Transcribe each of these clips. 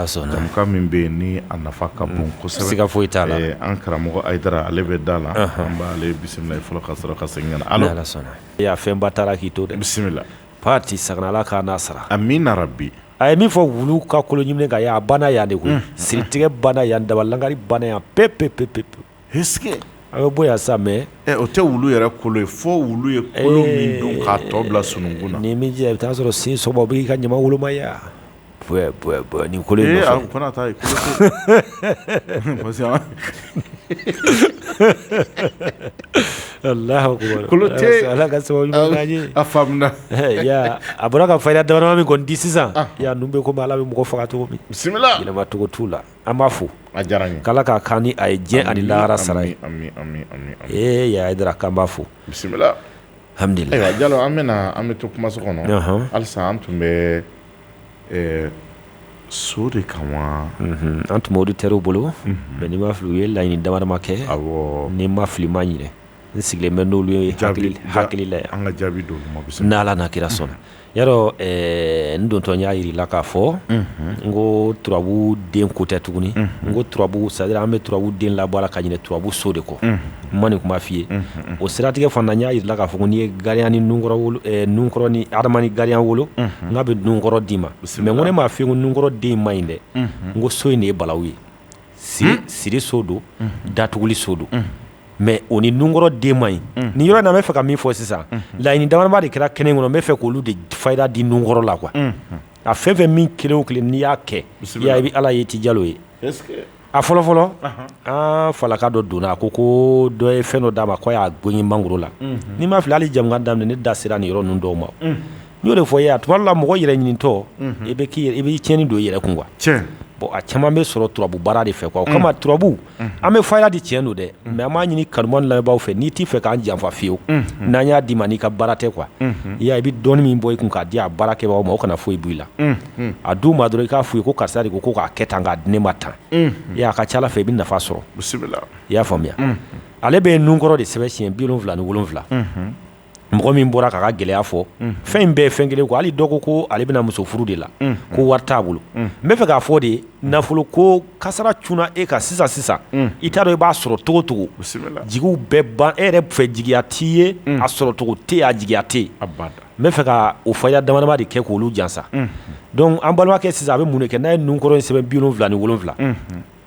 sɔnna jamukan min bɛ yen ni a nafa ka bon kosɛbɛ siga foyi t'a la an karamɔgɔ ayidara ale bɛ da la an b'ale bisimila fɔlɔ ka sɔrɔ ka segin ka na ala fɛnba taara k'i to dɛ bisimila patisakana ala k'a n'a sara amina rabi a ye min fɔ wulu ka kolo ɲiminen kan a banna yan de koyi siritigɛ banna yan daba lankari banna yan p pe-p-p-p a bɛ bɔ sa mɛ o tɛ wulu yɛrɛ kolo ye fɔ wulu ye tɔ bila sunkun na min i bɛ'a sɔrɔ sin sɔnma b'i ka ɲama wolomaya nin ko ala ka sababu a fa a bɔra ka fa da min kɔni di sisan yan bɛ ko ala bɛ mɔgɔ faga cogo bisimilaba cogo' la an b'a fo a diyara n ye k'ala k'a k'an ni a ye diɲɛ ani lahara sara ye ee ayidara k'an b'a fo bisimila alhamdulillah ayiwa jalo an bɛ an bɛ to kumaso kɔnɔ halisa an tun bɛ so de kan wa an tun bɛ auditeurs bolo mais ni n ma fili u ye laɲini damadama kɛ ni n ma fili n ma ɲinɛ n sigilen bɛ n'olu ye hakili la yan an ka jaabi d'olu ma bisimila n'ala n'a kira sɔnna Yarɔ ɛɛ n dontɔ n y'a yira i la k'a fɔ, unhun, n ko turabu den ko tɛ tuguni, unhun, n ko turabu c'est à dire an bɛ turabu den labɔ a la ka ɲinɛ turabu so de kɔ, unhun, n ma nin kuma fɔ i ye, unhun, o siratigɛ fana n y'a yira i la k'a fɔ ko n'i ye gariya ni nunkɔrɔ wolo, ɛɛ nunkɔrɔ ni Adama ni gariya wolo, unhun, n k'a bɛ nunkɔrɔ d'i ma, bisimila, mais n ko ne m'a fɔ i ye ko nunkɔrɔ den in maɲi dɛ, unhun, n ko so in de ye balawu ye, siri so don datuguli so don mais o ni nunkɔrɔ den ma ɲi nin yɔrɔ in na n bɛ fɛ ka min fɔ sisan laɲini damadama de kɛra kɛnɛ kɔnɔ n bɛ fɛ k'olu de fayida di nunkɔrɔ la quoi a fɛn fɛn min kelen o kelen n'i y'a kɛ i bɛ ala ye ti jalo ye a fɔlɔfɔlɔ an falaka dɔ donna a ko ko dɔ ye fɛn dɔ d'a ma ko a y'a gengen mangoro la ni n ma fili hali jamukan daminɛ ne da sera nin yɔrɔ ninnu dɔw ma n y'o de fɔ i ye a tuma dɔ la mɔgɔ yɛrɛ ɲinitɔ i bɛ i bɛ tiɲɛni don i yɛrɛ kun quoi bon a caman bɛ sɔrɔ turabu baara de fɛ o kama turabu an bɛ fayida di tiɲɛ don dɛ mais an b'a ɲini kanubaaw lamɛnbaaw fɛ n'i t'i fɛ k'an janfa fiyewu n'an y'a d'i ma n'i ka baara tɛ quoi i y'a ye i bɛ dɔɔni min bɔ i kun k'a di a baarakɛbaaw ma o kana foyi bɔ i la a d'u ma dɔrɔn i k'a f'u ye ko karisa de ko k'a kɛ tan k'a di ne ma tan i y'a ka ca fɛ i bɛ nafa sɔrɔ i y'a faamuya ale bɛ nunkɔrɔ de sɛbɛn siɲɛ bi wolonwula ni wolonwula mɔgɔ min bɔra k'a ka gɛlɛya fɔ fɛn in bɛɛ ye fɛn kelen ko hali dɔ ko ale bɛna muso furu de la ko wari t'a bolo n bɛ fɛ k'a fɔ de nafolo ko kasara cunna e kan sisan sisan i t'a dɔn i b'a sɔrɔ cogocogo jigi bɛɛ ban e yɛrɛ fɛ jigiya t'i ye a sɔrɔcogo tɛ yen a jigiya tɛ yen n bɛ fɛ ka o fayida damadama de kɛ k'olu jansa donc an balimakɛ sisan a bɛ mun de kɛ n'a ye nunkɔrɔ in sɛbɛn bi wolonwula ni wolonwula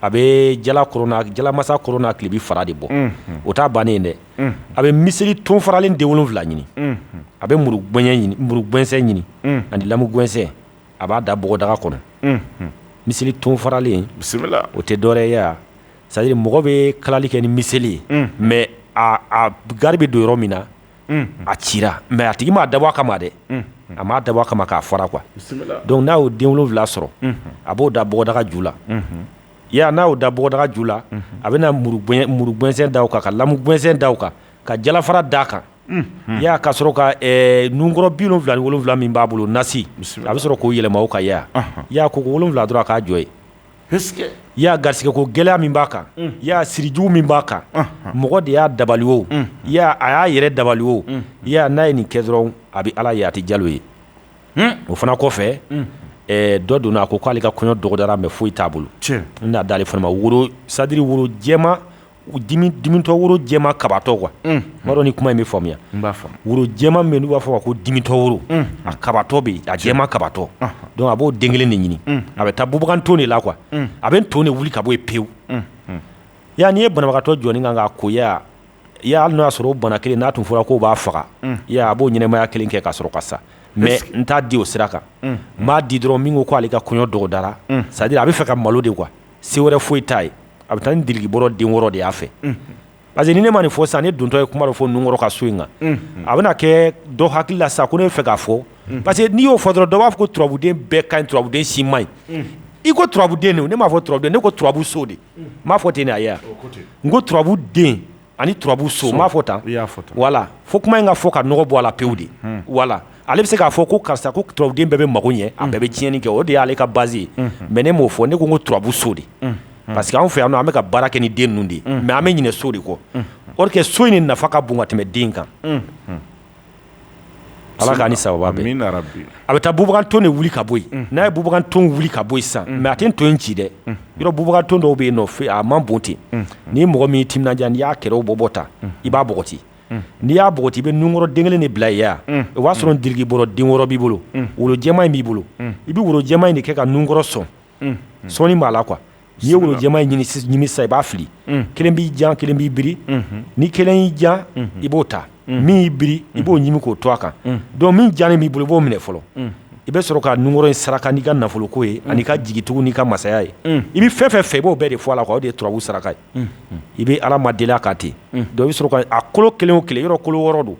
a bɛ jalamasa kɔrɔn n'a kilebi fara de bɔ o t taa bannen dɛ a bɛ miseli ton faralen den wolonwula ɲini a bɛ muru muru gɛnsɛn ɲini ani lamu gɛnsɛn a b'a da bɔgɔdaga kɔnɔ miseli ton faralen bisimila o tɛ dɔwɛrɛ ye c'est-à-dire mɔgɔ bɛ kalali kɛ ni miseli ye mais a gari bɛ don yɔrɔ min na a cira mais a tigi m'a dabɔ a kama dɛ a m'a dabɔ a kama k'a fara quoi donc n'a y'o den wolonwula sɔrɔ a b'o da bɔgɔdaga ju la Ya n'a y'o da bɔgɔdaga ju la, unhun, a bɛna muru muru gɛnsɛn da o kan, ka lamu gɛnsɛn da o kan, ka jalafara da a kan, unhun, i y'a ye, ka sɔrɔ ka ɛ nunkɔrɔ 77 min b'a bolo nasi, a bɛ sɔrɔ k'o yɛlɛma o kan, i y'a ye wa, koko 7 dɔrɔn a k'a jɔ yen, ɛsekeke, i y'a ye garisigɛko gɛlɛya min b'a kan, unhun, i y'a ye siri jugu min b'a kan, unhun, mɔgɔ de y'a dabali o, unhun, i y'a ye a y'a yɛrɛ dabali o, unhun, i y'a ye n'a ye nin kɛ dɔrɔn a bɛ Ala ye a tɛ jalo ye. o fana kɔfɛ dɔ donna a ko k'ale ka kɔɲɔ dɔgɔdara mais foyi t'a bolo n n'a d'ale fana ma woro c'est-à-dire woro dimitɔ woro jɛma kabatɔ quoi n m'a dɔn ni kuma in bɛ faamuya b'a fɔ woro jɛma min n'u b'a fɔ ko dimitɔ woro a kabatɔ bɛ yen a jɛma kabatɔ donc a b'o den kelen de ɲini a bɛ taa bubagan ton de la quoi a bɛ ton de wuli ka bɔ yen pewu yan n'i ye banabagatɔ jɔ nin kan k'a ko ya i y'a hali n'o y'a sɔrɔ o bana kelen n'a tun fɔra k'o b'a faga unhun i y'a ye a b'o ɲɛnɛmaya 1 kɛ ka sɔrɔ ka sa mais n t'a di o sira kan unhun n b'a di dɔrɔn min ko k'ale ka kɔɲɔ dɔgɔdara unhun c'est à dire a be fɛ ka malo de quoi se wɛrɛ foyi t'a ye a be taa ni dirikibɔrɔ den wɔɔrɔ de y'a fɛ unhun parce que ni ne ma nin fɔ sisan ne dontɔ ye kuma dɔ fɔ nunkɔrɔ ka so in kan unhun a bena kɛ dɔ hakili la sisan ko ne be fɛ k'a fɔ unhun parce que n'i y'o fɔ dɔrɔn dɔ b'a fɔ ko turabuden bɛɛ kaɲi turabuden si maɲi unhun i ko turabuden de o ne m'a fɔ turabuden ne ko turabu so de m'a fɔ ten de a ye n ko turabu den ani turabu so n m'a fɔ tan voilà fo kuma in ka fɔ ka nɔgɔ bɔ a la pewu de voilà ale bɛ se k'a fɔ ko karisa ko turabuden bɛɛ bɛ mako ɲɛ a bɛɛ bɛ tiɲɛni kɛ o de y'ale ka base ye mais ne m'o fɔ ne ko n ko turabu so de parce que an fɛ yan nɔ an bɛ ka baara kɛ ni den ninnu de mais an bɛ ɲinɛ so de kɔ or que so in de nafa ka bon ka tɛmɛ den kan ala k'an ni sababu bɛn a bɛ taa bubagan ton de wuli ka bɔ yen n'a ye bubagan ton wuli ka bɔ yen sisan mais a tɛ ton in ci dɛ yɔrɔ bubagan ton dɔw bɛ yen nɔ fɛ a man bon ten ni mɔgɔ min timinandiya n'i y'a kɛrɛw bɔbɔ ta i b'a bɔgɔti n'i y'a bɔgɔti i bɛ nunkɔrɔ den kelen de bila yen ya o b'a sɔrɔ dirikibɔrɔ den wɔɔrɔ b'i bolo woro jɛma in b'i bolo i bɛ woro jɛma in de kɛ ka nunkɔrɔ sɔn sɔɔni b'a la quoi N'i ye woro jɛma in ɲimi sisan i b'a fili kelen b'i jan kelen b'i biri ni kelen y'i jan i b'o ta min y'i biri i b'o ɲimi k'o to a kan donc min jannen b'i bolo i b'o minɛ fɔlɔ i bɛ sɔrɔ ka nunkɔrɔ in saraka n'i ka nafoloko ye ani ka jigitugu n'i ka masaya ye i bɛ fɛn fɛn fɛ i b'o bɛɛ de fɔ a la quoi o de ye turabu saraka ye i bɛ ala ma deli a kan ten donc i bɛ sɔrɔ ka a kolo kelen kelen yɔrɔ kolo wɔɔrɔ don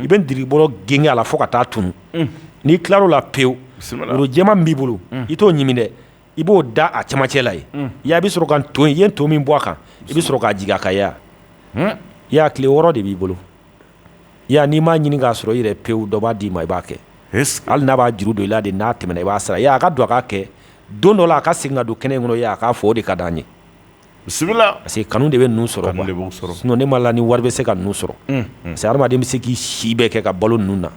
i bɛ dirikibɔrɔ genge a la fo ka taa tunun n'i tilar'o la pewu woro jɛma b'i bolo i t'o ɲimi dɛ i b'o da a camancɛ la ye ya i bɛ sɔrɔ ka to i ye to min bɔ a kan i bɛ sɔrɔ k'a jigin a kan ya tile wɔɔrɔ de b'i bolo ya n'i m'a ɲini k'a sɔrɔ i yɛrɛ pewu dɔ b'a d'i ma i b'a kɛ hali n'a b'a juru don i la de n'a tɛmɛna i b'a sara a ka don a ka kɛ don dɔ la a ka segin ka don kɛnɛ in kɔnɔ a k'a fɔ o de ka di an ye parce que kanu de bɛ ninnu sɔrɔ quoi sinon ne ma la ni wari bɛ se ka ninnu sɔrɔ parce que hadamaden bɛ se k'i si bɛɛ kɛ ka balo ninnu na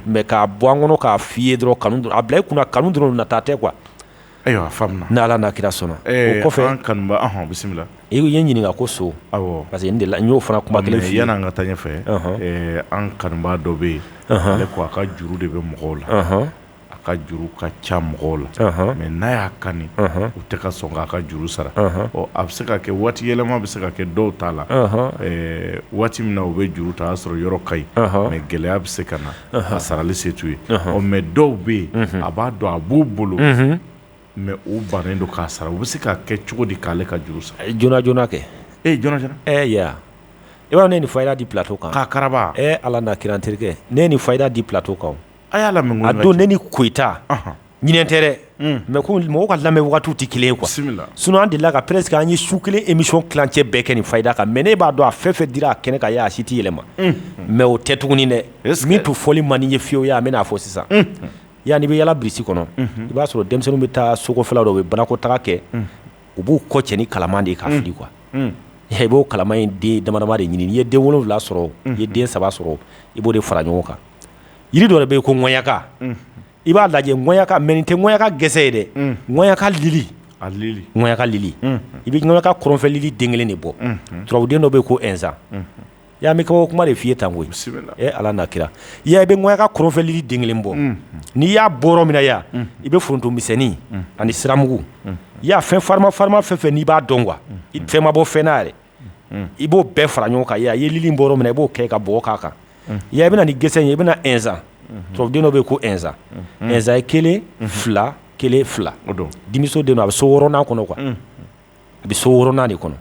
mais k'a bɔ an kɔnɔ k'a f'i ye dɔrɔn kanu a bila i kunna kanu dɔrɔn nata tɛ quoi ayiwa faamuna ni ala n'a kira sɔnna o kɔfɛ an kanubaa bisimila i ye ɲininka ko so parce que n y'o fana kuma kelen fɔ yanni an ka taa ɲɛfɛ an kanubaa dɔ bɛ yen ale ko a ka juru de bɛ mɔgɔw la a ka juru ka ca mɔgɔw la mais n'a y'a kani u tɛ ka sɔn k'a ka juru sara ɔ a bɛ se ka kɛ waati yɛlɛma bɛ se ka kɛ dɔw ta la waati min na u bɛ juru ta a y'a sɔrɔ yɔrɔ ka ɲi mais gɛlɛya bɛ se ka na a sarali se t'u ye ɔ mais dɔw bɛ yen a b'a dɔn a b'u bolo mais u bannen don k'a sara u bɛ se k'a kɛ cogo di k'ale ka juru sara joona joona kɛ e joona joona i b'a dɔn ne ye nin fayida di plateau kan k'a karaba ala n'a kira n terikɛ ne ye nin fayida di plateau kan A y'a lamɛn a don ne ni Koyita ɲinɛnen tɛ dɛ mais mɔgɔw ka lamɛn waati tɛ kelen ye quoi sinon an delila ka presque an ye su kelen émission tilancɛ bɛɛ kɛ nin fayida kan mais ne b'a dɔn a fɛn fɛn dira kɛnɛ kan a si tɛ yɛlɛma mais o tɛ tuguni dɛ min tun fɔli man di n ye fiyewu ya an bɛn'a fɔ sisan ya n'i bɛ yaala birisi kɔnɔ i b'a sɔrɔ denmisɛnninw bɛ taa sokɔfɛla dɔ u bɛ banakɔtaa kɛ u b'u kɔ cɛ ni kalama de ye k'a fili quoi i b'o kalama in den damadama de ɲini i ye den wolonwula sɔrɔ i ye den saba sɔrɔ i b'o de fara ɲɔgɔn kan jiri dɔ bɛ yen ko ŋaɲaka i b'a lajɛ ŋaɲaka mais nin tɛ ŋaɲaka gɛsɛ ye dɛ ŋaɲaka lili ŋaɲaka lili i bɛ ŋaɲaka kɔrɔnfɛ lili den kelen de bɔ turabuden dɔ bɛ yen ko ɛnzan y'a mɛn kabako kuma de f'i ye tan koyi e ala n'a kira ya i bɛ ŋaɲaka kɔrɔnfɛ lili den kelen bɔ n'i y'a bɔ yɔrɔ min na ya i bɛ foronto misɛnnin ani siramugu ya fɛn farima farima fɛn fɛn n'i b'a dɔn quoi fɛn ma bɔ fɛn na yɛrɛ i b'o bɛɛ fara ɲɔgɔn kan ya i ye lili bɔ yɔrɔ min na i b'o kɛ ka bɔgɔ k'a kan ya i bɛna ni gɛsɛ ye i bɛna ɛnzan turabuden dɔ bɛ yen ko ɛnzan ɛnzan ye kelen fila kelen fila denmuso den don a bɛ so wɔɔrɔnan kɔnɔ quoi a bɛ so wɔɔrɔnan de kɔnɔ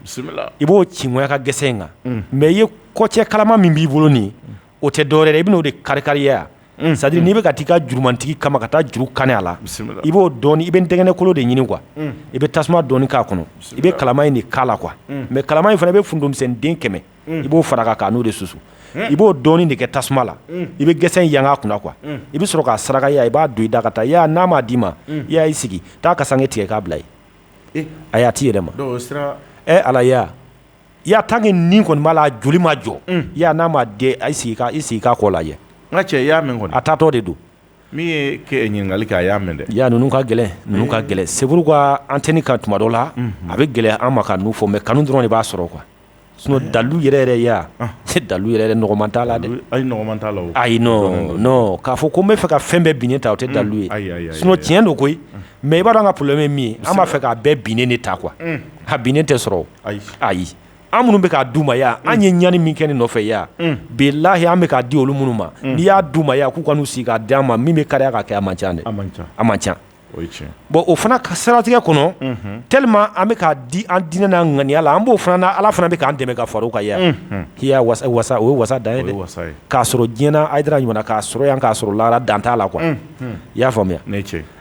i b'o ci ŋaɲaka gɛsɛ in kan mais i ye kɔ cɛ kalama min b'i bolo nin o tɛ dɔwɛrɛ i bɛn'o de kari kari ya ya c'est à dire n'i bɛ ka taa i ka jurumantigi kama ka taa juru kani a la i b'o dɔɔnin i bɛ ntɛgɛnɛkolo de ɲini quoi i bɛ tasuma dɔɔnin k'a kɔnɔ i bɛ kalama in de k'a la quoi mais kalama in fana i bɛ foronto misɛn den kɛmɛ i b'o fara a kan k'a n'o de susu i b'o dɔɔnin de kɛ tasuma la i bɛ gɛsɛ in yanga a kunna quoi i bɛ sɔrɔ k'a saraka i b'a don i da ka taa n'a m'a d'i ma i sigi taa kasanke tigɛ k'a bila ye a y'a tɛ i yɛrɛ ma ala i y'a tant que nin kɔni b'a la joli ma jɔ i n'a ma den ayi sigi k'i sigi k'a kɔ lajɛ n ka cɛ i y'a mɛn kɔni a taatɔ de don min ye ɲininkali kɛ a y'a mɛn dɛ ya ninnu ka gɛlɛn ninnu ka gɛlɛn c'est pourquoi antenne kan tuma dɔ la a bɛ gɛlɛya an ma ka ninnu fɔ mais kanu dɔrɔn de b'a sɔrɔ quoi sinon dalu yɛrɛ yɛrɛ ya se dalu yɛrɛ nɔgɔman t'a la ayi k'a fɔ ko n bɛ fɛ ka fɛn bɛɛ binnen ta o tɛ dalu ye sinon tiɲɛ don koyi mais i b'a dɔn an ka problème ye min ye an b'a fɛ k'a bɛɛ binnen de ta quoi a binnen tɛ sɔrɔ ayi ayi an minnu bɛ k'a d'u ma yan an ye ɲani min kɛ nin nɔfɛ yan bilayi an bɛ k'a di olu minnu ma n'i y'a d'u ma yan k'u ka n'u sigi k'a d'an ma min bɛ kariya k'a kɛ a man ca dɛ a man ca bon o fana ka siratigɛ kɔnɔ tellement an bɛ k'a di an diinɛ n'a ŋaniya la an b'o fana ala fana bɛ k'an dɛmɛ ka fara o kan yan o ye wasa dan ye dɛ k'a sɔrɔ diɲɛ na Hayidara ɲuman na k'a sɔrɔ yan k'a sɔrɔ lahara dan t'a la quoi i y'a faamuya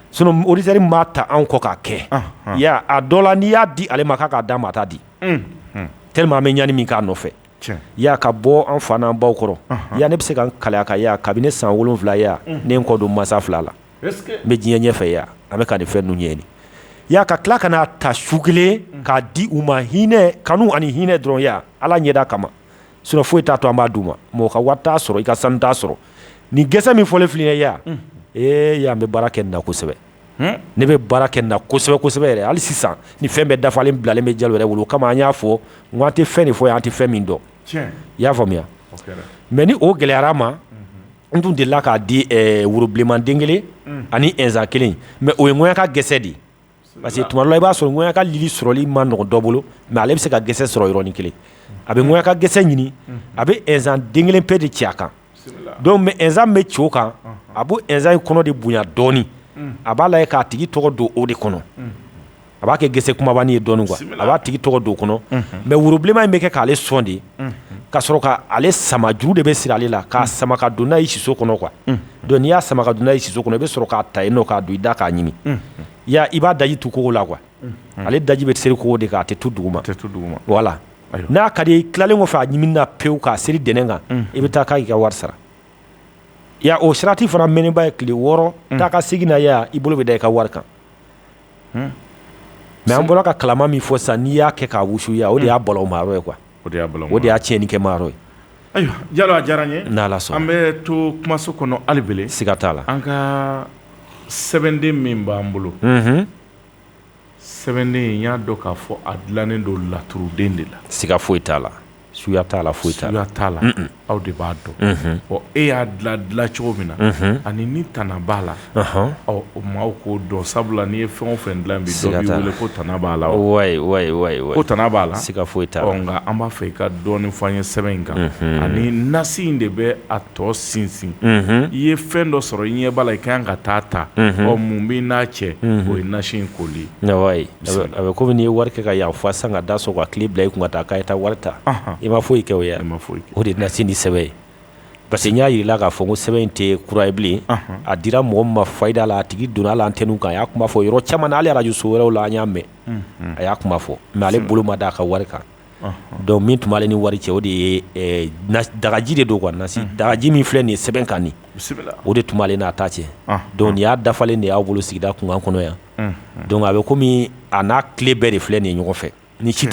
Sinon auditeur m'a ta an kɔ k'a kɛ, anhan, i y'a ye a dɔ la n'i y'a di ale ma k'a k'a d'an ma a t'a di, unhun, tellement an bɛ ɲani min k'a nɔfɛ, tiɲɛ, i y'a ye ka bɔ an fa n'an baw kɔrɔ, anhan, i y'a ye ne bɛ se ka n kali a kan i y'a ye kabini ne san 7 i y'a ye ne ye n kɔ don n mansa fila la, est ce que n bɛ diɲɛ ɲɛfɛ i y'a ye an bɛ ka nin fɛn ninnu ɲɛɲini i y'a ye ka tila ka n'a ta su kelen k'a di u ma hinɛ kanu ani hinɛ dɔrɔn i y'a ye Ala ɲɛda kama sinon foyi t'a to an b'a d'u ma mɔgɔ ka wari t'a sɔrɔ i ka sanu t'a sɔrɔ ni gɛsɛ min fɔlen filɛ yan ee y'an bɛ baara kɛ nin na kosɛbɛ ne bɛ baara kɛ nin na kosɛbɛ kosɛbɛ yɛrɛ hali sisan ni fɛn bɛɛ dafalen bilalen bɛ Jalo yɛrɛ bolo o kama an y'a fɔ n ko an tɛ fɛn de fɔ an tɛ fɛn min dɔn i y'a faamuya mais ni o gɛlɛyara ma n tun delila k'a di worobilenman den kelen ani nsan kelen mais o ye ŋanyaka gɛsɛ de ye Parce que tuma dɔ la i b'a sɔrɔ ŋanyaka lili sɔrɔli man nɔgɔn dɔ bolo mais ale bɛ se ka gɛsɛ sɔrɔ yɔrɔnin kelen a bɛ ŋanyaka gɛsɛ ɲini a bɛ nsan den kelen pe de ci a kan mais nsan bɛ ci o kan a b'o nsan in kɔnɔ de bonya dɔɔni a b'a lajɛ k'a tigi tɔgɔ don o de kɔnɔ a b'a kɛ gɛsɛ kunbabanin ye dɔɔni quoi a b'a tigi tɔgɔ don o kɔnɔ mais worobilenman in bɛ kɛ k'ale sɔn de ka sɔrɔ k'ale sama juru de bɛ siri ale la k'a sama ka don n'a ye siso kɔnɔ quoi Donc n'i y'a sama ka don n'a ye siso kɔnɔ i bɛ sɔrɔ k'a ta i k'a don i da k'a ɲimi i b'a daji tu kogo la quoi ale daji bɛ seri kogo de kan a tɛ tu duguma voilà n'a ka di i tilalen kɔfɛ a ɲimini na pewu k'a seri dɛnɛn kan i bɛ taa k'i ka wari sara o sirati fana mɛɛnnenba ye tile wɔɔrɔ taa ka segin na i bolo bɛ da i ka wari kan mais an bɔra ka kalama min fɔ sisan n'i y'a kɛ k'a wusu o de y'a bolo mayɔrɔ ye quoi o de y'a bolo o de y'a tiɲɛni kɛ mayɔrɔ ye ayiwa Jalo a diyara n ye n'Ala sɔnna an bɛ to kumaso kɔnɔ hali bele siga t'a la an ka sɛbɛnden min b'an bolo sɛbɛnden in y'a dɔn k'a fɔ a dilannen don laturuden de la siga foyi t'a la suya t'a la foyi t'a la t'a la aw de b'a dɔn ɔ e y'a dila dila cogo min na ani ni tana b'a la o maaw k'o dɔn sabula n'i ye fɛn o fɛn dila bi dɔ b'i wele ko tana b'a la ko tana b'a la siga foyi t'a la nka an b'a fɛ i ka dɔɔni fɔ an ye sɛbɛn in kan ani nasi in de bɛ a tɔ sinsin i ye fɛn dɔ sɔrɔ i ɲɛ b'a la i ka kan ka taa ta ɔ mun b'i n'a cɛ o ye nasi in koli A bɛ kɔmi n'i ye wari kɛ ka yan fa san ka da sɔgɔ ka kile bila i kun ka taa k'a taa wari ta i ma foyi kɛ o ye ma foyi o de nasi ni sɛbɛn ye parce que n y'a jira la k'a fɔ ko sɛbɛn in tɛ kura ye bilen a dira mɔgɔ min ma fayida la a tigi donna la antenne kan a y'a kuma fɔ yɔrɔ caman na hali arajo so wɛrɛw la an y'a mɛn a y'a kuma fɔ mɛ ale bolo ma d'a ka wari kan dɔnku min tun b'ale ni wari cɛ o de ye dagaji de don quoi nasi dagaji min filɛ nin ye sɛbɛn kan nin o de tun b'ale n'a ta cɛ dɔnku nin y'a dafalen de y'aw bolo sigida kunkan kɔnɔ yan donc a bɛ kɔmi a n'a kile bɛɛ de filɛ nin ye ɲɔgɔn fɛ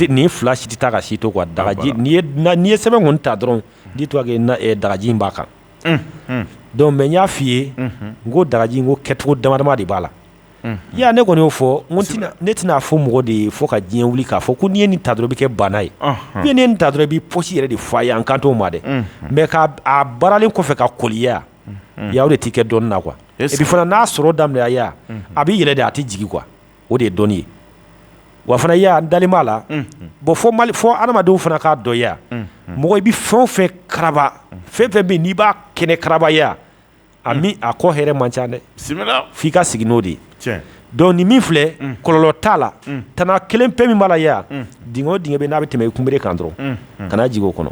nin fila si tɛ taa ka si to dagaji n'i ye sɛbɛn kɔni ta dɔrɔn di to dagaji b'a kan donc mɛ n y'a f'i ye n ko dagaji ko kɛcogo dama de b'a la yan ne kɔni y'o fɔ ne tɛna a fɔ mɔgɔ de ye fo ka diɲɛ wuli k'a fɔ ko n'i ye nin ta dɔrɔn i bɛ kɛ baana ye n'i ye nin ta dɔrɔn i b'i pɔsi yɛrɛ de fa ayi an kan t'o ma dɛ mɛ k' a baaralen kɔfɛ ka koliya ya o de t'i kɛ dɔnni na quoi et puis fana n'a sɔrɔ daminɛya a bɛ yɛlɛ de a tɛ jigi kuwa o de ye dɔnni ye wa fana n dalen b'a la bɔn fo adamadenw fana k'a dɔn ya mɔgɔ i bɛ fɛn fɛn karaba fɛn fɛn bɛ n'i b'a kɛ ni karabaya ye a kɔ hɛrɛ man ca dɛ f'i ka sigi n'o de ye donc nin min filɛ kɔlɔlɔ t'a la tana kelen pe min b'a la ya dingɛ o dingɛ bɛ n'a bɛ tɛmɛ i kunbere kan dɔrɔn kana jigin o kɔnɔ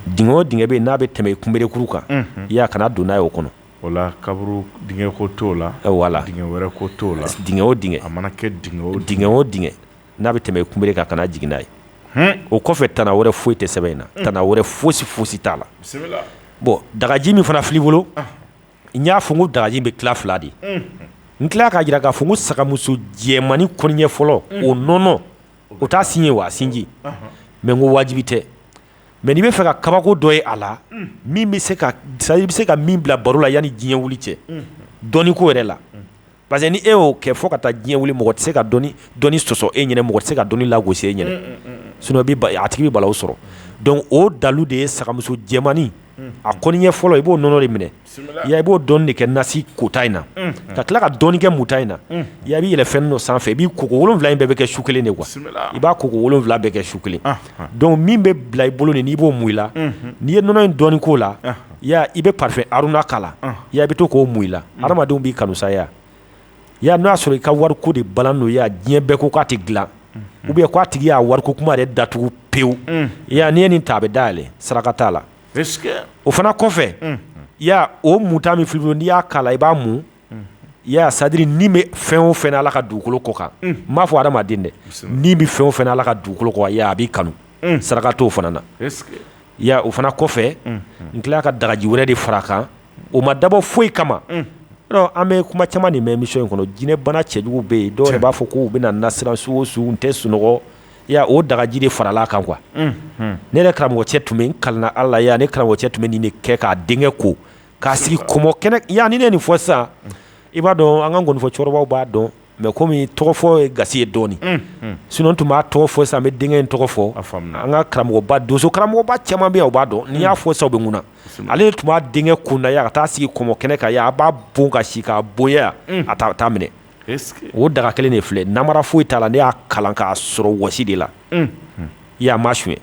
dingɛ o dingɛ bɛ n'a bɛ tɛmɛ i kunberekuru kan i y'a kana don n'a ye o kɔnɔ wala kaburu dingɛ ko t'o la wala dingɛ wɛrɛ ko t'o la dingɛ o dingɛ a mana kɛ dingɛ o dingɛ n'a bɛ tɛmɛ i kunbere kan kana jigin n'a ye o kɔfɛ tana wɛrɛ foyi tɛ sɛbɛn in na tana wɛrɛ foyisi foyisi t'a la bɔn dagaji min fana fil'i bolo n y'a fɔ n ko dagaji bɛ tila fila de ye n tila k'a jira k'a fɔ ko sagamuso jɛmannin kɔniɲɛ fɔlɔ o nɔnɔ o t'a sin ye wa a sinji mɛ n ko wajibi tɛ mɛ n'i bɛ fɛ ka kabako dɔ ye a la min bɛ se ka sa i bɛ se ka min bila baro la yanni diɲɛ wuli cɛ dɔnni ko yɛrɛ la parce que ni e y'o kɛ fo ka taa diɲɛ wuli mɔgɔ tɛ se ka dɔnni sɔsɔ e ɲɛna mɔgɔ tɛ se ka dɔnni lagosi e ɲɛna sinon a tigi bɛ balawu sɔrɔ dɔnku o dalu de ye sagamuso jɛmannin a kɔniɲɛ fɔlɔ i b'o nɔnɔ de minɛ ya i b'o dɔɔni de kɛ nasi kota in na ka tila ka dɔɔni kɛ muta in na ya i b'i yɛlɛ fɛn dɔ sanfɛ i b'i ko wolonwula in bɛɛ bɛ kɛ su kelen de quoi i b'a ko wolonwula bɛɛ kɛ su kelen donc min bɛ bila i bolo nin n'i b'o mun i la n'i ye nɔnɔ in dɔɔni k'o la ya i bɛ parfum haruna k'a la ya i bɛ to k'o mun i la adamadenw b'i kanu sa ya n'a y'a sɔrɔ i ka wari ko de balan don ya diɲɛ bɛɛ ko k'a tɛ dilan ou bien k'a tigi y'a wari ko kuma de datugu pewu ya n'i ye nin ta a bɛ dayɛlɛ saraka t'a la o fana kɔfɛ o muta min filɛ n'i y'a k'a la i b'a mun ya sadiri ni bɛ fɛn o fɛn na ala ka dugukolo kɔ kan n m'a fɔ hadamaden dɛ ni bɛ fɛn o fɛn na ala ka dugukolo kɔ ya a b'i kanu saraka t'o fana na o fana kɔfɛ n tila ka dagaji wɛrɛ de fara kan o ma dabɔ foyi kama an bɛ kuma caman nin mɛn émission in kɔnɔ jinɛbana cɛjugu bɛ yen dɔw b'a fɔ k'u bɛ na n nasiran su o su n tɛ sunɔgɔ ya o dagaji de farala kan quoi ne yɛrɛ karamɔgɔcɛ tun bɛ n kalan ala ya ne karamɔgɔcɛ tun bɛ nin de kɛ k'a denkɛ ko k'a sigi kɔmɔ kɛnɛ ya ni ne nin fɔ sisan i b'a dɔn an ka nkɔnifɔ cɛkɔrɔbaw b'a dɔn mais komi tɔgɔfɔ ye gasi ye dɔɔnin sinon n tun b'a tɔgɔ fɔ sisan an bɛ denkɛ in tɔgɔ fɔ an ka karamɔgɔba donso karamɔgɔba caman bɛ yan o b'a dɔn n'i y'a fɔ sisan u bɛ kunna ale tun b'a denkɛ kunda ya ka taa sigi kɔmɔ kɛnɛ kan ya a b'a bon ka si k'a bon ya a t'a minɛ o daga kelen de filɛ namara foyi t'a la ne y'a kalan k'a sɔrɔ wɔsi de la ya n m'a suɲɛ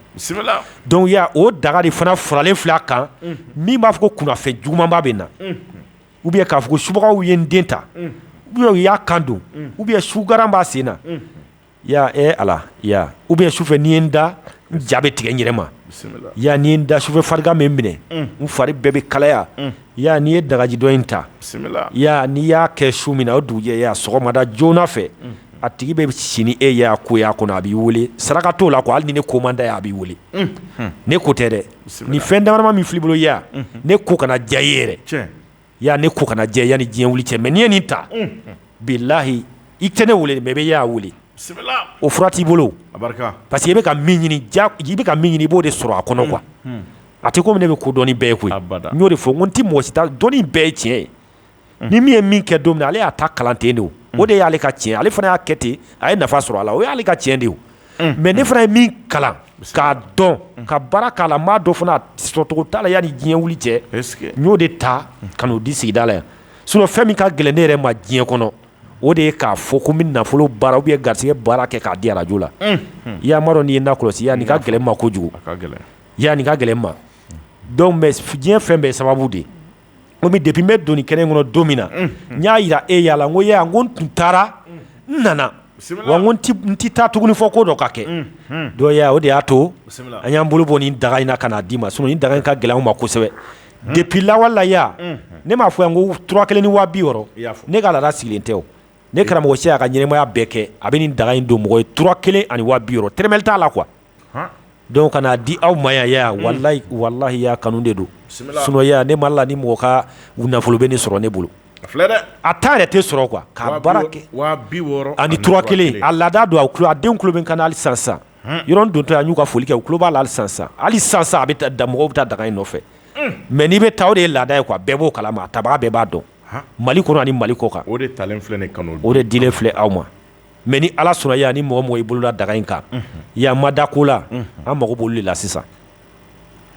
donc ya o daga de fana faralen filɛ a kan min b'a fɔ ko kunnafɛn jugumanba bɛ n na ou bien k'a fɔ ko subagaw ye n den ta ou bien u y'a kan don ou bien sugaran b'a sen na Ya ee ala ya ou bien sufɛ ni n ye n da n ja bɛ tigɛ n yɛrɛ ma ya ni n ye n da sufɛ farigan bɛ n minɛ n fari bɛɛ bɛ kalaya ya n'i ye dagaji dɔ in ta ya n'i y'a kɛ su min na o dugujɛ ya sɔgɔmada joona fɛ a tigi bɛ si ni e ya ko y'a kɔnɔ a b'i weele saraka t'o la quoi hali ni ne ko man d'a ye a b'i weele ne ko tɛ dɛ ni fɛn damadama min filɛ i bolo ya ne ko kana diya i ye yɛrɛ Ya ne ko kana diya yan ni diɲɛ wili cɛ mais n'i ye nin ta bilahi i tɛ ne weele mais i bɛ y'a weele o fura t'i bolo parce que i bɛ ka i bɛ ka min ɲini i b'o de sɔrɔ a kɔnɔ quoi a tɛ komi ne bɛ ko dɔnni bɛɛ koyi n y'o de fɔ ko n tɛ mɔgɔ si ta dɔnni bɛɛ ye tiɲɛ ye ni min ye min kɛ don min na ale y'a ta kalan ten de o de y'ale ka tiɲɛ ale fana y'a kɛ ten a ye nafa sɔrɔ a la o y'ale ka tiɲɛ de mais ne fana ye min kalan k'a dɔn ka baara k'a la maa dɔ fana sɔrɔcogo t'a la yan ni diɲɛ wuli cɛ n y'o de ta ka n'o di sigida la yan sinon fɛn min ka gɛlɛn ne yɛrɛ ma diɲɛ kɔnɔ o de ye k'a fɔ ko n bɛ nafolo baara ou bien garisɛgɛ baara kɛ k'a di arajo la i y'a dɔn n'i ye n nakɔlɔsi ya nin ka gɛlɛn n ma kojugu ya nin ka gɛlɛn n ma donc mais diɲɛ fɛn bɛɛ sababu de komi depi n bɛ don nin kɛnɛ in kɔnɔ don min na n y'a jira e y'a la ko ya n ko n tun taara n nana wa n ko n tɛ taa tuguni fo ko dɔ ka kɛ dɔnku ya o de y'a to an y'an bolo bɔ nin daga in na ka n'a d'i ma sinɔn nin daga in ka gɛlɛn n ma kosɛbɛ depi lawale la ya ne m'a fɔ yan ko tura kelen ni waa biwɔɔrɔ ne ka laada sigilen tɛ ne karamɔgɔ si y'a ka ɲɛnamaya bɛɛ kɛ a bɛ nin daga in don mɔgɔ ye tura kelen ani waa biwɔɔrɔ tɛrɛmɛli t'a la kuwa dɔnku ka n'a di aw ma ya walahi ya kanu de don sinɔn ya ne ma la ni mɔgɔ ka nafolo bɛna sɔrɔ ne bolo a ta yɛrɛ tɛ sɔrɔ kuwa k'a baara kɛ ani tura kelen a laada don a a denw tulo bɛ n kan na hali sisan yɔrɔ don to an y'u ka foli kɛ u tulo b'a la hali sisan hali sisan a bɛ taa mɔgɔw bɛ taa daga in nɔfɛ mɛ n'i bɛ taa o de ye laada ye kuwa bɛɛ b'o kalama a tabaga bɛɛ b'a dɔn mali kɔnɔ ni mali kɔ kan o de talen filɛ ne kanu o de dilen filɛ aw ma mɛ ni ala sɔnna ya ni mɔgɔ mɔgɔ i bolola daga in kan ya ma da ko la an mago b'olu de la sisan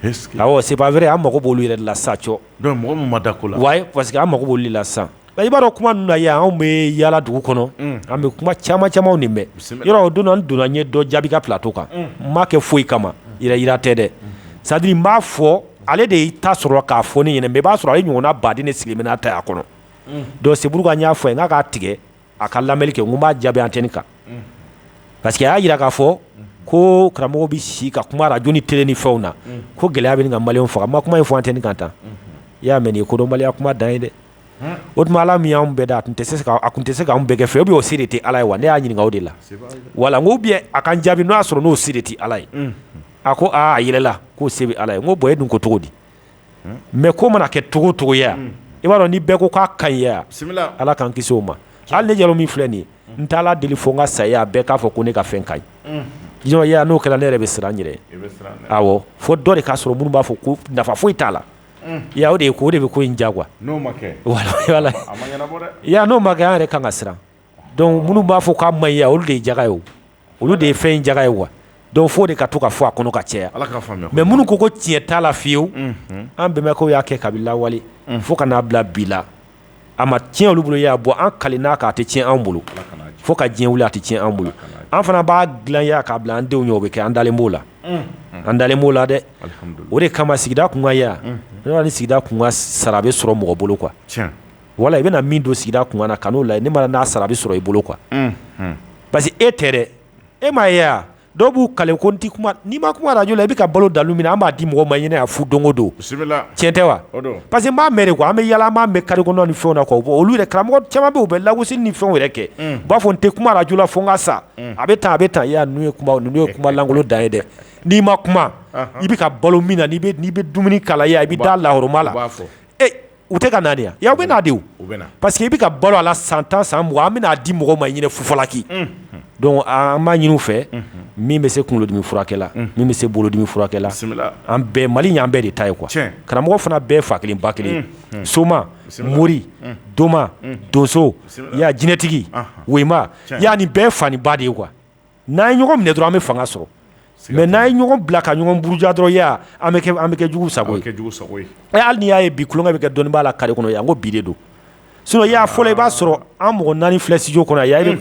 c'est vrai an mako b'olu yɛrɛ de la sa dɔnku mɔgɔ min ma da ko la parce que an mako b'olu de la sisan i b'a dɔn kuma ninnu na ya anw bɛ yaala dugu kɔnɔ an bɛ kuma caman camanw nin mɛn yɔrɔ o don n donna n ye dɔ jaabi ka plato kan n m'a kɛ foyi kama jira tɛ dɛ c'est à dire n b'a fɔ ale de y'i ta sɔrɔ k'a fɔ ne ɲɛna mɛ i b'a sɔrɔ ale ɲɔgɔnna baden de sigilen bɛ n'a ta y'a kɔnɔ dɔnku c'est pourquoi n y'a fɔ a ye n k'a k'a tigɛ a ka lamɛnni kɛ n ko n b'a jaabi antɛni kan parce que a y'a jira k'a fɔ ko karamɔgɔ bɛ si ka kuma arajo ni tele ni fɛnw na ko gɛlɛya bɛ ɲini ka maliyɛnw faga n ma kuma in fɔ antɛni kan tan i y'a mɛn nin ye kodɔnbaliya kuma dan ye dɛ o tuma ala min y'an bɛɛ da a tun tɛ se a tun tɛ se k'an bɛɛ kɛ fɛ ou bien o se de tɛ ala ye wa ne y'a ɲininka o de la wala n ko ou bien a ka n jaabi n'o y'a sɔrɔ n'o se de tɛ ala ye a ko aa a yɛlɛla k'o se bɛ ala ye n ko bɔn e dun ko cogo di mɛ ko mana kɛ cogo cogo ya i b'a dɔn ni bɛɛ ko k'a ka ɲi ya ala k'an kisi o ma hali ne jalo min filɛ nin ye n t'ala deli fo n ka saya bɛɛ k'a fɔ ko ne ka fɛn ka ɲi ya n'o kɛra ne yɛrɛ bɛ siran n yɛrɛ awɔ fo dɔ de k'a sɔrɔ minnu b'a fɔ ko nafa foyi t'a la ya o de ye ko o de bɛ ko in diya kuwa ya n'o ma kɛ an yɛrɛ ka kan ka siran dɔnku minnu b'a fɔ k'a man ɲi ya olu de ye jaga ye olu de ye fɛn in jaga ye wa dɔnku fo o de ka to ka fɔ a kɔnɔ ka caya mɛ minnu ko ko tiɲɛ t'a la fiyewu an bɛnbakɛw y'a kɛ kabini lawale fo ka n'a bila bi la a ma tiɲɛ olu bolo y'a bɔ an kalenna k'a tɛ tiɲɛ an bolo fo ka diɲɛ wili a tɛ tiɲɛ an bolo an fana b'a dilan ya k'a bila an denw ɲɛ o bɛ kɛ an dalen b'o la an dalen b'o la dɛ o de kama sigida kunkan ya ni sigida kunkan sara bɛ sɔrɔ mɔgɔ bolo kuwa wala i bɛna min don sigida kunkan na ka n'o lajɛ ne ma n'a sara a bɛ sɔrɔ i bolo quoi parce que e tɛ dɛ e m'a ye dɔw b'u kale ko n tɛ kuma n'i ma kuma arajo la i bɛ ka balo dalu min na an b'a di mɔgɔ ma i ɲɛna fu don o don cɛn tɛ wa parce que n b'a mɛn an bɛ yaala an b'a mɛn carré kɔnɔ ni fɛnw na olu yɛrɛ karamɔgɔ caman bɛ yen u bɛ lagosili ni fɛnw yɛrɛ kɛ u b'a fɔ n tɛ kuma arajo la fo n ka sa a bɛ tan a bɛ tan ninnu ye kumalankolon dan ye dɛ n'i ma kuma i bɛ ka balo min na n'i bɛ dumuni k'a la ya i bɛ da la la U tɛ ka na de wa? Yan u bɛ na de o, u bɛ na parce que i bɛ ka balo a la san tan san mugan an bɛn'a di mɔgɔw ma i ɲɛna fufalaki, unhun, donc an b'a ɲini u fɛ min bɛ se kunkolodimi furakɛ la min bɛ se bolodimi furakɛ la, bisimila, an bɛɛ Mali in y'an bɛɛ de ta ye quoi, tiɲɛ, karamɔgɔ fana bɛɛ fa kelen ba kelen, unhun, soma, bisimila, mori, unhun, doma, unhun, donso, bisimila, i y'a ye jinɛtigi, anhan, woyima, tiɲɛ, i y'a ye nin bɛɛ ye fa ni ba de ye quoi n'an ye ɲɔgɔn minɛ dɔrɔn an bɛ fanga sɔrɔ mais n'an ye ɲɔgɔn bila ka ɲɔgɔn buruja dɔrɔn ya an bɛ kɛ juguw sago ye, an bɛ kɛ juguw sago ye, ɛ hali n'i y'a ye bi tulonkɛ bɛ kɛ dɔnnibaa la carré kɔnɔ yan ko bi de don sinon ya fɔlɔ i b'a sɔrɔ an mɔgɔ naani filɛ studio kɔnɔ yan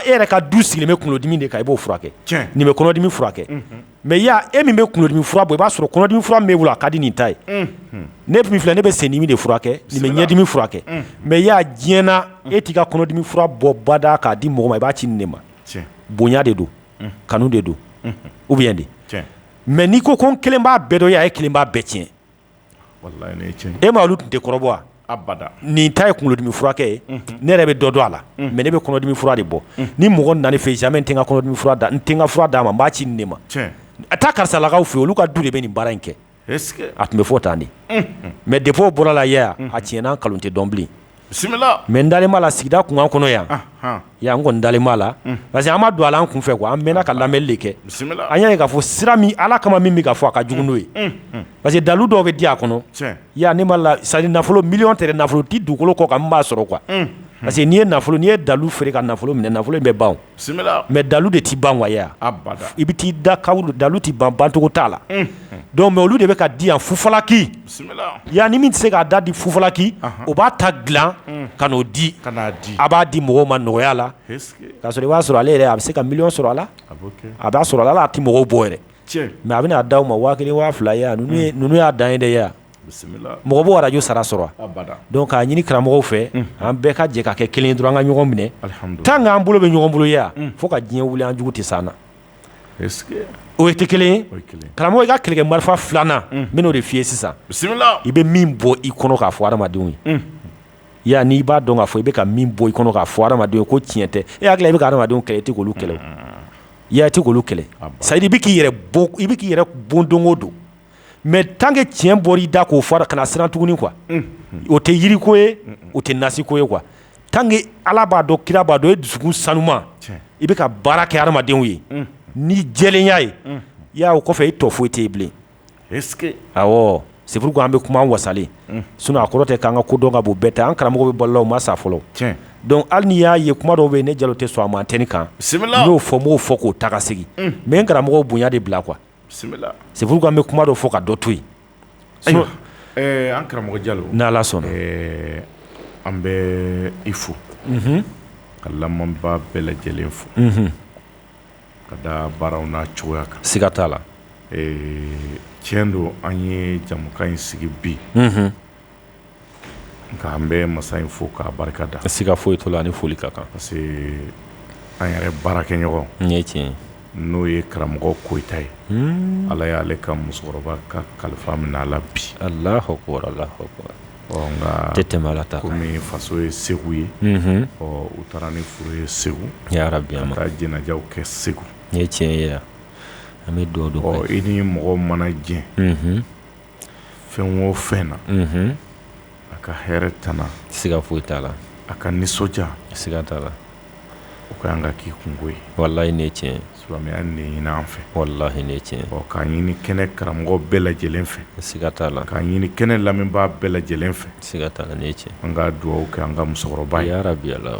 e yɛrɛ ka du sigilen bɛ kunkolodimi de kan i b'o furakɛ, tiɲɛ, nin bɛ kɔnɔdimi furakɛ mais yan e min bɛ kunkolodimi fura bɔ i b'a sɔrɔ kɔnɔdimi fura min b'e bolo a ka di nin ta ye, unhun, ne min filɛ ne bɛ sendimi de furakɛ nin bɛ ɲɛdimi furakɛ mais ya diɲɛ na e t'i ka kɔnɔdimi fura bɔ bada k'a di mɔgɔ ma i b'a ci nin de ma bonya de don kanu de don ou bien de mais n'i ko ko n kelen b'a bɛɛ dɔn ya e kelen b'a bɛɛ tiɲɛ e ma olu tun tɛ kɔrɔbɔ wa nin ta ye kunkolodimi furakɛ ye ne yɛrɛ bɛ dɔ dɔn a la mais ne bɛ kɔnɔdimi fura de bɔ ni mɔgɔ nana ne fɛ jamais n tɛ n ka kɔnɔdimi fura d'a n tɛ n ka fura d'a ma n b'a ci nin de ma a taa karisalakaw fɛ olu ka du de bɛ nin baara in kɛ a tun bɛ fɔ tan de mais depuis o bɔra a la ya tiɲɛ ni nkalon tɛ dɔn bilen bisimila mais n dalen b'a la sigida kunkan kɔnɔ yan yan n kɔni dalen b'a la parce que an ma don a la an kun fɛ quoi an mɛnna ka lamɛnni de kɛ an y'a ye k'a fɔ sira min ala kama min bɛ ka fɔ a ka jugu n'o ye parce que dalu dɔw bɛ di a kɔnɔ ya ni ala c'est à dire nafolo miliyɔn tɛ dɛ nafolo ti dugukolo kɔ kan min b'a sɔrɔ quoi parce que n'i ye nafolo n'i ye dalu feere ka nafolo minɛ nafolo in bɛ ban mais dalu de tɛ ban wa ya i bɛ t'i da dalu tɛ ban bancogo t'a la donc mais olu de bɛ k'a di yan fufalaki yan ni min tɛ se k'a da di fufalaki o b'a ta dila ka n'o di ka di a b'a di mɔgɔw ma nɔgɔya la k'a sɔrɔ i b'a sɔrɔ ale yɛrɛ a bɛ se ka miliyɔn sɔrɔ a la a b'a sɔrɔ a la a tɛ mɔgɔw bɔ yɛrɛ mais a bɛna a d'aw ma waa kelen waa fila ninnu y'a dan ye dɛ yan mɔgɔ b'o radio sara sɔrɔ wa? Abada, donc k'a ɲini karamɔgɔw fɛ, unhun, an bɛɛ ka jɛ ka kɛ kelen ye dɔrɔn an ka ɲɔgɔn minɛ, alihamudulila, tant que an bolo bɛ ɲɔgɔn bolo ye yan, unhun, fo ka diɲɛ wili an jugu tɛ se an na, est ce que o tɛ kelen ye, o ye kelen ye, karamɔgɔ i ka kɛlɛkɛ marifa 2 nan, unhun, n bɛna o de f'i ye sisan, bisimila, i bɛ min bɔ i kɔnɔ k'a fɔ adamadenw ye, unhun, yala n'i b'a dɔn k'a fɔ i bɛ ka min bɔ i kɔnɔ k'a fɔ adamadenw ye ko tiɲɛ tɛ, e hakili la i bɛ ka adamadenw kɛlɛ i tɛ k'olu kɛlɛ o, yala i tɛ k'olu kɛlɛ, c'est à dire i bɛ k'i yɛrɛ bon i bɛ k'i yɛrɛ bon don o don mais tant que tiɲɛ bɔra i da k'o fɔ kana siran tuguni quoi o tɛ yiriko ye o tɛ nasiko ye quoi tant que ala b'a dɔn kira b'a dɔn i dusukun sanuma i bɛ ka baara kɛ adamadenw ye ni jɛlenya ye o kɔfɛ i tɔ foyi tɛ bilen c'est pourquoi an bɛ kuma an wasalen sinon a kɔrɔ tɛ k'an ka ko dɔn ka bon bɛɛ ta an karamɔgɔw bɛ balo la u ma sa fɔlɔ donc hali n'i y'a ye kuma dɔw bɛ yen ne jalo tɛ sɔn a ma antenne kan n y'o fɔ n b'o fɔ k'o ta ka segin mais n karamɔgɔw bonya de bila quoi c'est pourquoi an bɛ kuma dɔ fɔ ka dɔ to yen ayiwa an karamɔgɔ jalo n'ala sɔnna an bɛ i fo ka lamɛnbaa bɛɛ lajɛlen fo ka da baaraw n'a cogoya kan siga t'a la tiɲɛ don an ye jamukan in sigi bi nka an bɛ masa in fo k'a barika da siga foyi t'o la ni foli ka kan parce que an yɛrɛ baarakɛɲɔgɔn n ye tiɲɛ n'o ye karamɔgɔ koyita ye ala y'ale ka musokɔrɔba ka kalifa minɛ a la bi allahu akbar nka tɛ tɛmɛ ala ta kan kɔmi faso ye segu ye ɔ u taara ni furu ye segu ya rabbi ka taa jɛnɛjaw kɛ segu n ye tiɲɛ ye an bɛ dugawu don i ni mɔgɔ mana jɛn fɛn o fɛn na a ka hɛrɛ tana siga foyi t'a la a ka nisɔndiya siga t'a la o ka kan ka k'i kunko ye walayi ne tiɲɛ silamɛya ne ɲini an fɛ walayi ne tiɲɛ k'a ɲini kɛnɛ karamɔgɔ bɛɛ lajɛlen fɛ siga t'a la k'a ɲini kɛnɛ lamɛnbaa bɛɛ lajɛlen fɛ siga t'a la ne tiɲɛ an ka dugawu kɛ an ka musokɔrɔba ye bi la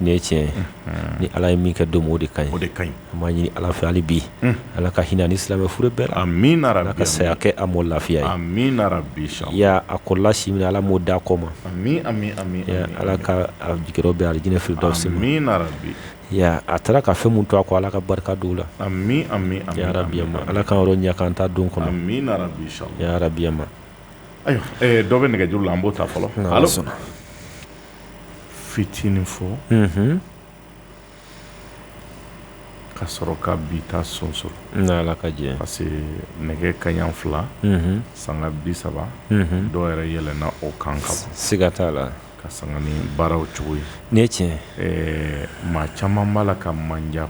Nin ye tiɲɛ ni ala ye min kɛ don o de ka o de ka ɲi an b'a ɲini ala fɛ hali bi ala ka hinɛ ni silamɛ furu bɛɛ la amina ala ka saya kɛ a ma lafiya ye amina rabbi a kɔrɔla si min ala m'o d'a kɔ ma ala k'a jigiyɔrɔ bɛn alijinɛ firidausi ma amina a taara ka fɛn min to a kɔ ala ka barika don a la ya rabbi ala k'an yɔrɔ ɲɛ k'an ta don kɔnɔ amina rabbi ayiwa dɔ bɛ nɛgɛjuru la an b'o ta fɔlɔ sɔnna fitinin fɔ ka sɔrɔ ka bi ta sonsoro ka jɛ parce que nɛgɛ kanɲɛ fila sanga bi saba dɔw yɛrɛ yɛlɛnna o kan ka bɔ siga t'a la ka sanga ni baaraw cogo ye n ye tiɲɛ maa caman b'a la ka man jan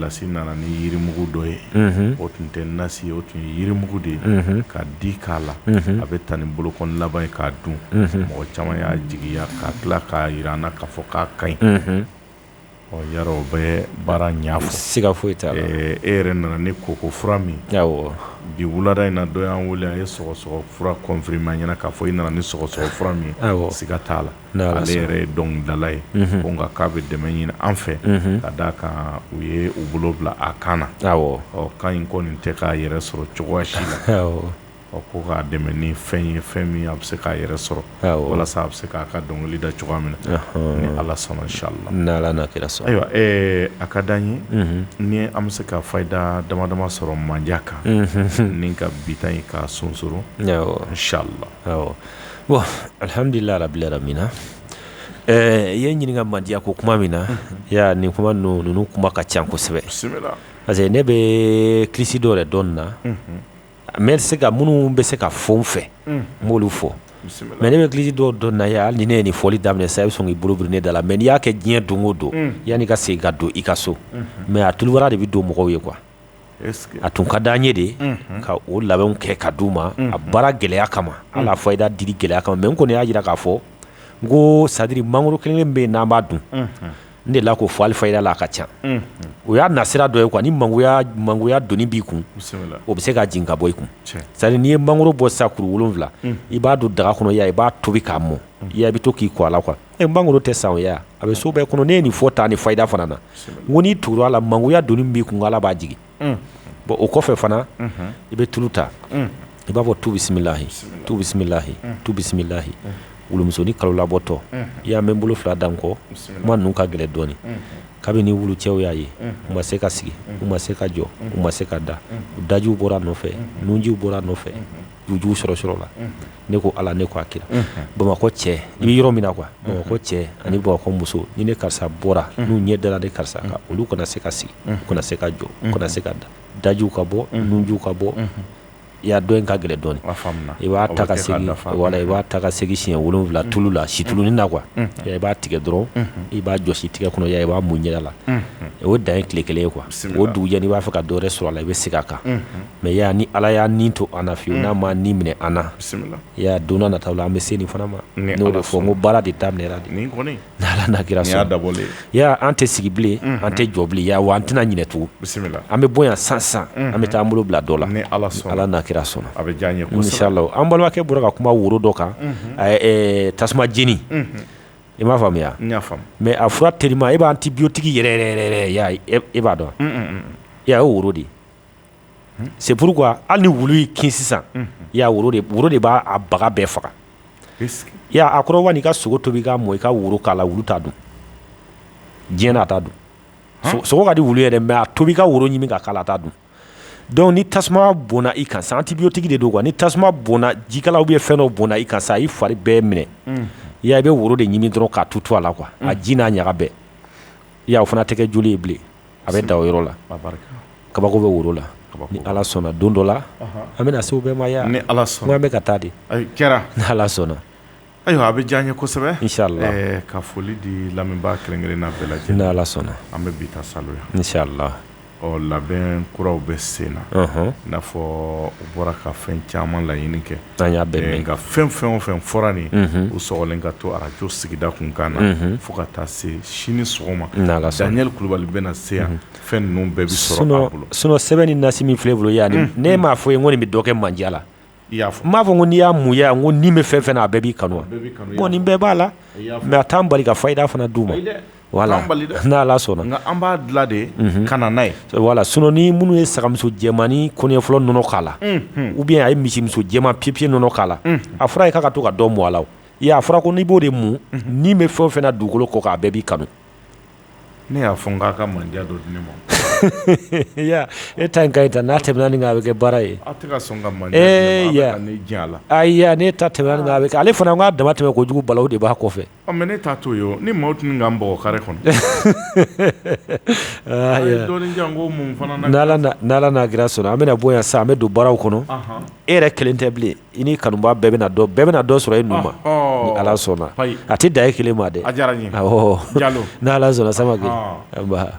lasi nana ni yirimugu dɔ ye o tun tɛ nasi ye o tun ye yirimugu de ye ka di k'a la a bɛ taa ni bolokɔn laban ye k'a dun mɔgɔ caman y'a jigiya ka tila k'a jira an na k'a fɔ k'a ka ɲi yarɔ o bɛ baara ɲɛfɔ siga foyi t'a la e yɛrɛ nana ni koko fura min bi wulada in na dɔ y'an wele a ye sɔgɔsɔgɔ fura confirmer an ɲɛna k'a fɔ i nana ni sɔgɔsɔgɔ fura min siga t'a la ale yɛrɛ ye dɔnkilidala ye ko nka k'a bɛ dɛmɛ ɲini an fɛ ka d'a kan u ye u bolo bila a kan na kan in kɔni tɛ k'a yɛrɛ sɔrɔ cogoya si la ɔ ko k'a dɛmɛ ni fɛn ye fɛn min a bɛ se k'a yɛrɛ sɔrɔ walasa a bɛ se k'a ka dɔnkili da cogoya min na ni ala sɔnna inshallah n'ala n'a kira sɔn ayiwa a ka di an ye ni an bɛ se ka fayida dama dama sɔrɔ mandiya kan ni ka bi ta in ka sonsoro inshallah bon alihamdulilahi rabili alamina ɛɛ i ye ɲininkaka mandiya ko kuma min na nin kuma ninnu kuma ka ca kosɛbɛ parce que ne bɛ kilisi dɔ yɛrɛ dɔn na mais minnu bɛ se ka fɔ n fɛ n b'olu fɔ mais ne bɛ kilisi dɔ dɔn na hali ni ne ye nin fɔli daminɛ sa i bɛ sɔn k'i bolo biri ne da la mais n'i y'a kɛ diɲɛ don o don yan'i ka segin ka don i ka so mais a tulubara de bɛ don mɔgɔw ye quoi a tun ka di an ye de ka o labɛnw kɛ ka di u ma a baara gɛlɛya kama an'a fayida dili gɛlɛya kama mais n kɔni y'a jira k'a fɔ n ko c'est-à-dire mangoro kelen bɛ n'an b'a dun n delila k'o fɔ hali fayida la a ka ca o y'a nasira dɔ ye quoi ni mangoya doni b'i kun o bɛ se ka jigin ka bɔ i kun c'est-à-dire n'i ye mangoro bɔ sisan kuru wolonwula i b'a don daga kɔnɔ i b'a tobi k'a mɔ i yaa i bɛ to k'i ko a la quoi E mangoro tɛ san a bɛ so bɛɛ kɔnɔ ne ye nin fɔ tan ni fayida fana na n ko n'i tugura a la mangoya doni b'i kun ala b'a jigin bon o kɔfɛ fana i bɛ tulu ta i b'a fɔ tu bisimilahi tu bisimilahi tu bisimilahi wulumusonin kalo labɔtɔ i y'a mɛn bolo fila da n kɔ kuma ninnu ka gɛlɛn dɔɔnin kabini wulucɛw y'a ye u ma se ka sigi u ma se ka jɔ u ma se ka da u dajiw bɔra nɔfɛ nunjiw bɔra nɔfɛ jujuw sɔrɔ sɔrɔ la ne ko ala ne ko a kira bamakɔ cɛ i bɛ yɔrɔ min na quoi bamakɔ cɛ ani bamakɔ muso ni ne karisa bɔra n'u ɲɛ dara ne karisa kan olu kana se ka sigi kana se ka jɔ kana se ka da dajiw ka bɔ nunjiw ka bɔ i y'a dɔn nin ka gɛlɛn dɔɔnin i b'a ta i b'a ta ka segin siɲɛ wolonwula tulu la situlunin na quoi i b'a tigɛ dɔrɔn i b'a jɔsi tigɛ kɔnɔ i b'a mun ɲɛ la o dan ye tile kelen ye quoi o dugujɛ n'i b'a fɛ ka dɔ wɛrɛ sɔrɔ a la i bɛ segin a kan mais ya ni ala y'a ni to an na fiyewu n'a ma ni minɛ an na ya don nataw la an bɛ se nin fana ma n'o de fɔ n ko baara de daminɛra de n'ala n'a kira sɔn an tɛ sigi bilen an tɛ jɔ bilen wa an tɛna ɲinɛ tugun an bɛ bɔ yan sisan an bɛ taa an bolo bila dɔ la ala ala n'a kira sɔnna a bɛ diya n ye an balimakɛ bɔra ka kuma woro dɔ kan tasuma jeni i m'a faamuya mais a fura teri e bɛ antibiotique yɛrɛ e b'a dɔn e' ye woro de c'est pourquoi hali ni wulu y'i kin sisan woro de b'a baga bɛɛ faga a kɔrɔ n'i ka sogo tobi k'a mɔ i ka woro k'a la wulu t'a dun diɲɛ na a t'a dun sogo ka di wulu yɛrɛ mais a tobi ka woro ɲimi ka k'a la a t'a dun donc ni tasuma bɔnna i kan sa antibiotique de don ni tasuma bɔnna jikalan ou bien fɛn dɔ bɔnna i kan sa i fari bɛɛ minɛ i bɛ woro de ɲimi dɔrɔn k'a tutu a la quoi a ji n'a ɲaga bɛɛ o fana tɛ kɛ joli ye bilen a bɛ da o yɔrɔ la kabako bɛ woro la ni ala sɔnna don dɔ la an bɛna se o bɛɛ ma ya ni ala sɔnna an bɛ ka taa de kɛra ni ala sɔnna ayiwa a bɛ diya n ye kosɛbɛ ka foli di lamɛnbaa kelen-kelenna bɛɛ lajɛlen ni ala sɔnna an bɛ bi sa inshallah labɛn kuraw bɛ sen na i n'a fɔ u bɔra ka fɛn caman laɲini kɛ An y'a mɛn nka fɛn fɛn o fɛn fɔra nin u sɔgɔlen ka to arajo sigida kunkan na fo ka taa se sini sɔgɔma Daniel kulubali bɛna se yan fɛn ninnu bɛɛ bɛ sɔrɔ a bolo sinon sɛbɛn ni nasi min filɛ n bolo yan ne m'a fɔ i ye ko nin bɛ dɔ kɛ mandiya la i y'a fɔ n m'a fɔ ko n'i y'a mun ya ko ni bɛ fɛn fɛn na a bɛɛ b'i kanu bon nin bɛɛ b'a la mais a t'an bali ka fayida fana d'u ma n'ala sɔnna an b'a dilan de ka na n'a ye voilà sinon nin minnu ye sagamuso jɛmannin kɔɲɔ fɔlɔ nɔnɔ k'a la ou bien a ye misimuso jɛman piyepiye nɔnɔ k'a la a fɔra ye k'a ka to ka dɔ mɔ a la i y'a fɔra ko n'i b'o de mun ni bɛ fɛn fɛn na dugukolo kɔ kan a bɛɛ b'i kanu ne y'a fɔ k'a ka mandiya dɔ di ne ma e ta ka ta n'a tɛmɛna nin a bɛ kɛ baara ye a la ne ta tɛmɛna ale fana k'a dama tɛmɛ kojugu balawu de b'a kɔfɛ Ɔ mais ne t'a to yen o, ni maaw tun bɛ ka n bugɔ carré kɔnɔ, a ye dɔɔnin di yan n ko mun fana na kɛra sisan, ni Ala n'a kira sɔnna an bɛna bɔ yan sisan an bɛ don baaraw kɔnɔ, ɔnhɔn, e yɛrɛ kelen tɛ bilen i n'i kanubaga bɛɛ bɛna dɔ bɛɛ bɛna dɔ sɔrɔ e nu ma, ɔhɔ, ni Ala sɔnna, ayi, a tɛ dan e kelen ma dɛ, a diyara n ye, awɔ, Jalo, ni Ala sɔnna Samake, anba